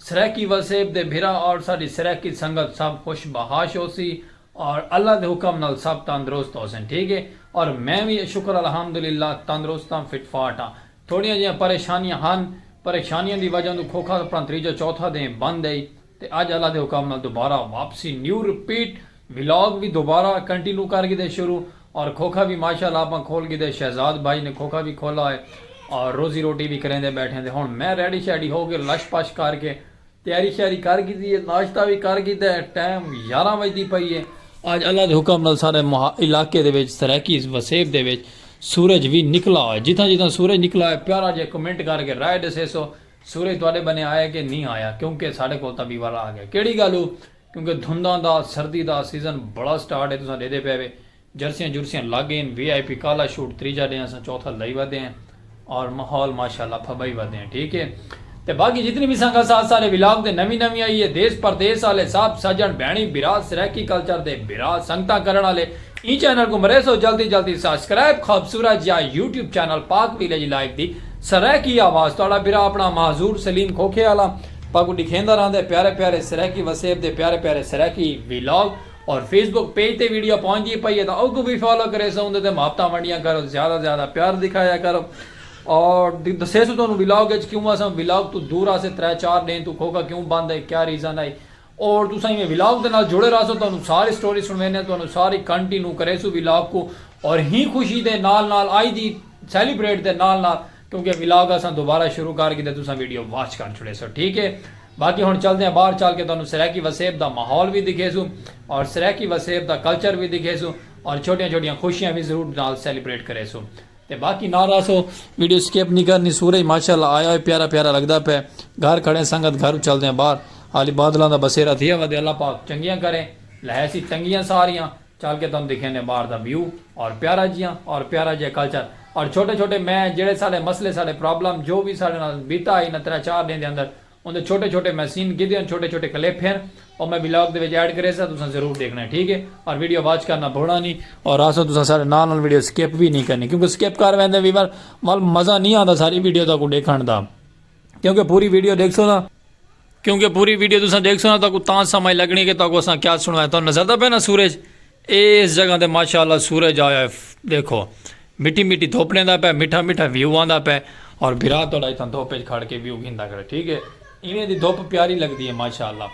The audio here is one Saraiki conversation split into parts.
سرائیکی وسیب دے بھرا اور ساڈی سرائیکی سنگت سب خوش بحاش ہوسی اور اللہ دے حکم نال سب تندرست ہوسن ٹھیک ہے اور میں وی شکر الحمدللہ تندرست ہاں فٹ فاٹ ہاں تھوڑیاں جیاں پریشانیاں ہن پریشانیاں دی وجہ توں کھوکھا اپنا تریجا چوتھا دیں بند ہئی تے اج اللہ دے حکم نال دوبارہ واپسی نیو رپیٹ ولاگ وی دوبارہ کنٹینو کر گھدے شروع اور کھوکھا وی ماشاءاللہ آپاں کھول گھدے شہزاد بھائی نے کھوکھا وی کھولا ہوئے اور روزی روٹی وی کریندے بیٹھے تے ہن میں ریڈی شیڈی ہو کے لش پش کر کے تیاری شیاری کر گھدی ہے ناشتہ وی کر گھدا ہے ٹائم یاراں وجدی پئی ہے۔ آج اللہ دے حکم نال سارے علاقے دے وچ سرائیکی وسیب دے وچ سورج وی نکلا ہوئے جتھاں جتھاں سورج نکلا ہوئے پیارا جیا کمنٹ کر کے رائے ڈسیسو سورج تہاڈے بنے آیا کہ نی آیا کیونکہ ساڈے کول تاں وی والا آ گیا کیڑی گالو کیونکہ دھنداں دا سردی دا سیزن بڑا سٹارٹ ہے تساں ڈیدھے پئے وے جرسیاں جرسیاں لگ گئین وی آئی پی کالا شوٹ تریجا ڈے اساں چوتھا لائی ودے ہیں اور ماحول ماشاءاللہ پھبائی ودے ہیں ٹھیک ہے تے باقی جتنی وی سنگت ساتھ سارے ولاگ تے نوی نوی آئی ہے دیس پردیس آلے سب سجن بھینڑی بھرا سرائیکی کلچر دے بھرا سنگتاں کرن آلے ایں چینل کوں مریسو جلدی جلدی سبسکرائب خوبصورت جیا YouTube channel Pak village live دی سرائیکی آواز تہاڑا بھرا اپنا معذور سلیم کھوکھے آلا پاکوں ڈکھیندا رہندے پیارے پیارے سرائیکی وسیب دے پیارے پیارے سرائیکی ویلاگ اور فیس بک پیج تے ویڈیو پہنچدی پئی ہے تاں اوکوں وی فالو کریسوں اوندے تے محبتاں ونڈیاں کرو زیادہ زیادہ پیار دکھایا کرو اور دسیسوں تہانوں ویلاگ اچ کیوں اساں ویلاگ توں دور آسے ترے چار ڈینھ توں کھوکا کیوں بند ہے کیا ریزن ہے اور تساں ایویں ولاگ دے نال جڑے راہسو تہانوں ساری سٹوری سنڑویندے ہاں تہانوں ساری کنٹی نیو کریسوں ولاگ کوں اور ہی خوشی دے نال نال آئی دی سیلیبریٹ دے نال نال کیونکہ ولاگ اساں دوبارہ شروع کر گھدے تساں ویڈیو واچ کر چھڑیسو ٹھیک ہے باقی ہن چلدے ہاں باہر چل کے تہانوں سرائیکی وسیب دا ماحول وی دکھیسوں اور سرائیکی وسیب دا کلچر وی دکھیسوں اور چھوٹیاں چھوٹیاں خوشیاں وی ضرور نال سیلیبریٹ کریسوں تے باقی نہ راسو ویڈیو سکپ نی کرنی سورج ماشاءاللہ آیا ہوئے پیارا پیارا لگدا پئے گھر کھڑیں سنگت گھرو چلدیاں باہر حالی بادلاں دا بسیرا تھیا ودے اللہ پاک چنگیاں کرے لہیسی تنگیاں ساریاں چل کے تانوں دکھینے باہر دا ویو اور پیارا جیاں اور پیارا جیاں کلچر اور چھوٹے چھوٹے میں جیڑھے ساڈے مسئلے ساڈے پرابلم جو وی ساڈے نال بیتا ہئی انہاں ترے چار ڈینہہ دے اندر اوندے چھوٹے چھوٹے محسین گدھے ہن چھوٹے چھوٹے کلپ ہن او میں ولاگ دے وچ ایڈ کریساں تساں ضرور ڈیکھنا ہے ٹھیک ہے اور ویڈیو واچ کرنا بھولنا نی اور آسو تساں سارے نال نال ویڈیو سکپ وی نی کرنی کیونکہ سکپ کر ویندے ویور ول مزہ نی آندا ساری ویڈیو تاکوں ڈیکھن دا کیونکہ پوری ویڈیو ڈیکھسو نا کیونکہ پوری ویڈیو تساں ڈیکھسو نا تاکوں تاں سمجھ لگنی کہ تاکوں اساں کیا سنوایا تاں نظر دا پے نا سورج اے اس جگہ تے ماشاء اللہ سورج آیا ہے ڈیکھو مٹی مٹی دھوپ ڈیندا پے مٹھا مٹھا ویو آندا پے اور بھرا تہاڈا اتھاں دھوپ وچ کھڑ کے ویو گھندا کرے ٹھیک ہے ایویں دی دھوپ پیاری لگدی ہے ماشاء اللہ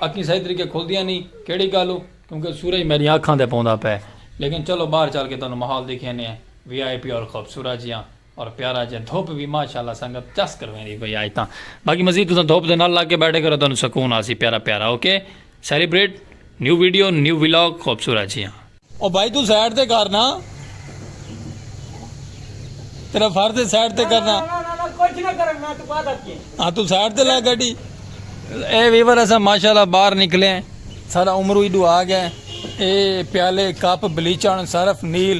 اکھیں صحیح طریقے کھلدیاں نی کیڑی گالو کیونکہ سورج میڈیاں اکھاں تے پوندا پے لیکن چلو باہر چل کے تہانوں ماحول دکھینے ہیں وی آئی پی اور خوبصورت جیاں اور پیارا جیاں دھوپ وی ماشاءاللہ سنگت چس کرویندی پئی آج تاں باقی مزید تساں دھوپ دے نال لگ کے بیٹھے کرو تانوں سکون آسی پیارا پیارا okay celebrate new video new vlog خوبصورت جیاں۔ او بھائی توں سائیڈ تے کر نا تیرا فرض ہے سائیڈ تے کرنا ہاں توں سائیڈ تے لا گاڈی اے ویور اساں ماشاءاللہ باہر نکلے ہیں سارا عمرو ایڈو آ گئے اے پیالے کپ بلیچن صرف نیل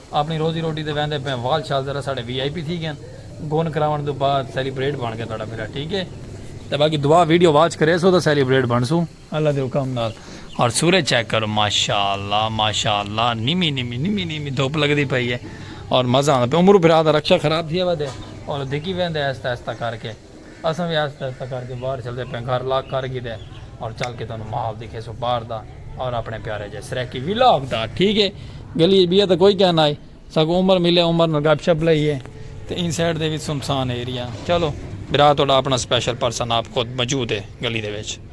اپݨی روزی روٹی تے ویندے پئے وال شال ذرا ساڈے وی آئی پی تھی گئن گن کراوݨ توں بعد سیلیبریٹ بݨ گئے تہاڈا بیڑا ٹھیک ہے تے باقی دعا ویڈیو واچ کریسو تاں سیلیبریٹ بݨسوں اللہ دے حکم نال اور سورج چیک کرو ماشاءاللہ ماشاءاللہ نمی نمی نمی نمی دھوپ لگدی پئی ہے اور مزہ آندا پیا عمرو بھرا دا رکشہ خراب تھیا ودے اور دھکی ویندے آہستہ آہستہ کر کے اساں وی آہستہ آہستہ کر کے باہر چلدے پئے گھر لاک کر گھدے اور چل کے تانوں ماحول دکھیسوں باہر دا اور اپنے پیارے جے سرائیکی ولاگ دا ٹھیک ہے گلی اچ بیا تے کوئی کہنا ہے ساکوں عمر ملے عمر نال گپ شپ لئیے تے ان سائیڈ دے وچ سنسان ایریا چلو برا تہاڈا اپنا سپیشل پرسن آپ خود موجود ہے گلی دے وچ۔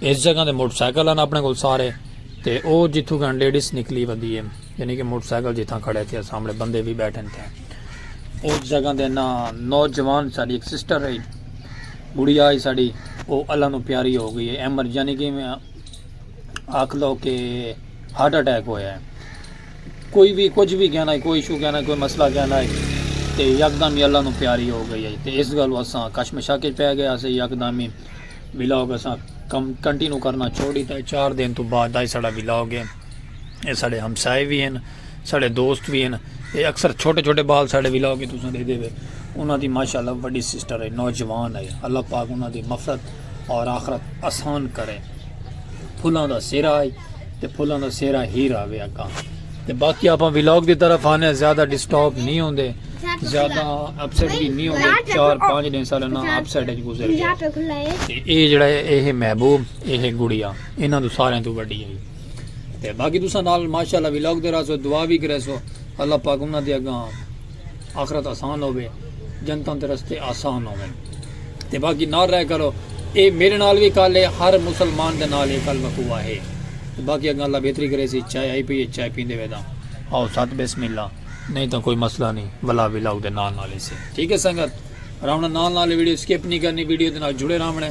اس جگہ تے موٹر سائیکل ہن اپنے کول سارے تے او جتھوں کن لیڈیز نکلی ودی ہے یعنی کہ موٹر سائیکل جتھاں کھڑے تھے سامنے بندے بھی بیٹھے تھے اس جگہ دے نا نوجوان ساری ایک سسٹر رہی گڑی آئی ساری او اللہ نو پیاری ہو گئی ہے ایمر یعنی کہ آکھ لو کہ ہارٹ اٹیک ہویا ہے کوئی بھی کچھ بھی کہنا ہے کوئی ایشو کہنا ہے کوئی مسئلہ کہنا ہے تے یکدم ہی اللہ نو پیاری ہو گئی ہے تے اس گلو اساں کشمشا کے پہ گیا سے یکدم ہی ولاگ اساں کم کنٹینو کرنا چھوڑ دیتا ہے چار دن تو بعد دا ساڑا ولاگ ہے اے ساڑے ہمسائے بھی ہیں ساڑے دوست بھی ہیں اے اکثر چھوٹے چھوٹے بال ساڑے ولاگ ہے تساں دے دے وے انہاں دی ماشاءاللہ بڑی سسٹر ہے نوجوان ہے اللہ پاک انہاں دی مفرت اور آخرت آسان کرے پھلاں دا سیرہ ہے تے پھلاں دا سیرا ہیر آوے اکاں تے باقی آپاں ویلاگ دی طرف آنے ہیں زیادہ ڈسٹاپ نہیں ہوندے زیادہ اپسیٹ بھی نہیں ہوندے چار پانچ دن سارے نا اپسیٹ اچ گزر گیا تے اے جڑا ہے اے ہے محبوب اے ہے گڑیا انہاں تو سارے تو بڑی ہے تے باقی دوسرا نال ماشاءاللہ ویلاگ دے رہا سو دعا بھی کرے سو اللہ پاک انہاں دے اگاں آخرت آسان ہووے جنتاں دے رستے آسان ہوون تے باقی نال رہ کرو اے میرے نال وی کل اے ہر مسلمان دے نال اے کل وقوع ہے باقی اگاں اللہ بہتری کرے سی چائے آئی پئی ہے چائے پیندے وے تاں آو ست بسم اللہ نہیں تاں کوئی مسئلہ نہیں ولا ولاگ دے نال نال ایسے ٹھیک ہے سنگت راونا نال نال ویڈیو سکپ نہیں کرنی ویڈیو دے نال جڑے راونے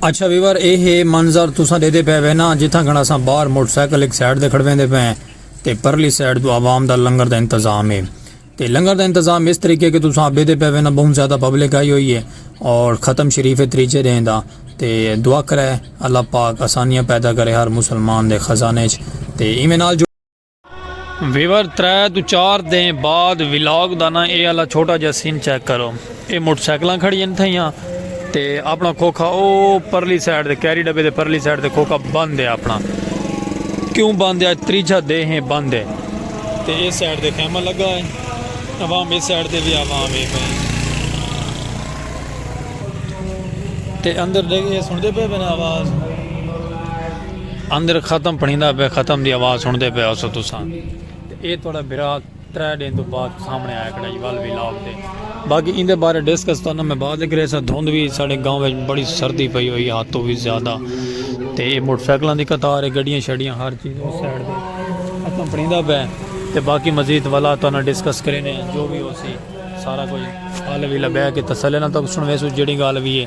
اچھا ویور اے ہے منظر تساں دے دے پے وے نا جتھاں گھنا ساں باہر موٹر سائیکل ایک سائیڈ دے کھڑویں دے پے تے پرلی سائیڈ تو عوام دا لنگر دا انتظام ہے تے لنگر دا انتظام اس طریقے کہ تساں ابے دے پئے وینا بہوں زیادہ پبلک آئی ہوئی ہے اور ختم شریف ہے تریجے دیں دا تے دعا کرے اللہ پاک آسانیاں پیدا کرے ہر مسلمان دے خزانے اچ تے ایویں نال جو ویور ترے توں چار دیں بعد ولاگ دا نا اے آلا چھوٹا جا سین چیک کرو۔ اے موٹر سائیکلاں کھڑین تھئیاں تے اپنا کھوکھا او پرلی سائیڈ دے کیری ڈبے دے پرلی سائیڈ دے کھوکھا بند ہے اپنا کیوں بند ہے تریجھا دے ہیں بند ہے تے اے سائیڈ دے خیمہ لگا ہے عوام اے سائیڈ دے بھی عوام ہے پہ تے اندر دے گئے سن دے پہ بنا آواز اندر ختم پڑھیں دا پہ ختم دی آواز سن دے پہ آسو تو سان اے توڑا برات ترے ڈینھ توں بعد سامنے آیا کڑائی ول وی لاگ تے باقی ایندے بارے ڈسکس تانوں میں بعد اچ کریساں دھند وی ساڈے گاؤں وچ بڑی سردی پئی ہوئی حد توں وی زیادہ تے اے موٹر سائیکلاں دی قطار اے گڈیاں شڈیاں ہر چیز اس سائیڈ تے اچھاں پڑیندا پئے تے باقی مزید ولا تانوں ڈسکس کرینے آں جو وی ہوسی سارا کجھ حل وی لبے کہ تسلی نال تہاکوں سنویسوں جیڑھی گالھ وی اے۔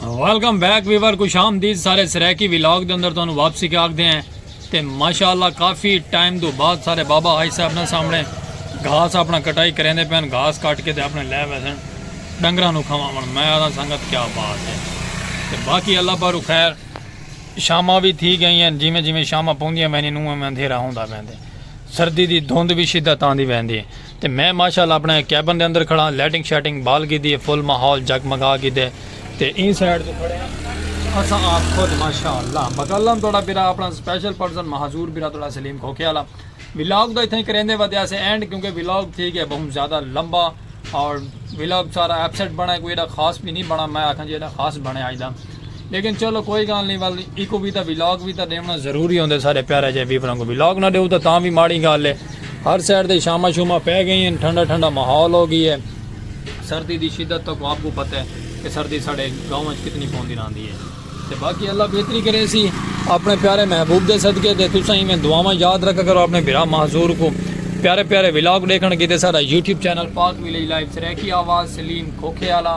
ویلکم بیک ویور کو شام دی سارے سریکی ویلاگ دے اندر تانوں واپسی کے آگ دے ہیں تے ماشاءاللہ کافی ٹائم دو بعد سارے بابا ہائی صاحب نے سامنے گھاس اپنا کٹائی کریں دے پہن گھاس کٹ کے دے اپنے لے ویسن ڈنگرہ نو کھوا من میں آدھا سنگت کیا بات ہے تے باقی اللہ پر خیر شامہ بھی تھی گئی ہیں جی میں جی میں شامہ پوندیاں میں نہیں نوہ میں اندھیرہ ہوں دا میں دے سردی دی دھوند بھی شدہ تاندی میں دے تے میں ماشاء اللہ اپݨے کیبن دے اندر کھڑاں لائٹنگ شائٹنگ بال گھیدی ہے فل ماحول جگ مگا گھیدے تے ایں سائیڈ تے کھڑے ہاں اساں آپ خود ماشاء اللہ مکلم توڑا برا اپنا سپیشل پرسن مہجور برا توڑا سلیم کھوکھے والا ولاگ دا اتھاں کریندے ودے اسے اینڈ کیونکہ ولاگ تھی گیا بہت زیادہ لمبا اور ولاگ سارا ایپسٹ بنا کوئی ایڈا خاص بھی نہیں بنا میں آکھاں جی ایڈا خاص بنے آج دا لیکن چلو کوئی گالھ نی ول ایکوں وی تاں ولاگ وی تاں ݙیوݨا ضروری ہوندے سارے پیارے جئے ویوراں کوں ولاگ نہ ݙیو تاں تاں وی ماڑی گالھ ہے ہر سائیڈ تے شاماں شوماں پئے ڳئیں ہن ٹھنڈا ٹھنڈا ماحول ہو ڳی ہے سردی دی شدت تاں آپ کوں پتہ ہے کہ سردی ساݙے گاؤں وچ کتنی پوندی رہندی ہے تے باقی اللہ بہتری کریسی اپݨے پیارے محبوب دے صدقے تے تساں ایویں دعاواں یاد رکھا کرو اپݨے بھرا معذور کوں پیارے پیارے ولاگ ݙیکھݨ کیتے ساݙا YouTube channel Pak village live Saraiki آواز سلیم کھوکھے آلا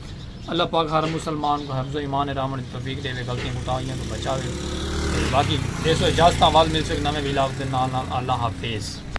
اللہ پاک ہر مسلمان کو حفظ و ایمان ہے رامن کی توفیق دے وے غلطیاں کوتاہیاں تو بچا وے باقی دیسو اجازتاں وال مل سک نویں ویلاگ دے نال نال اللہ حافظ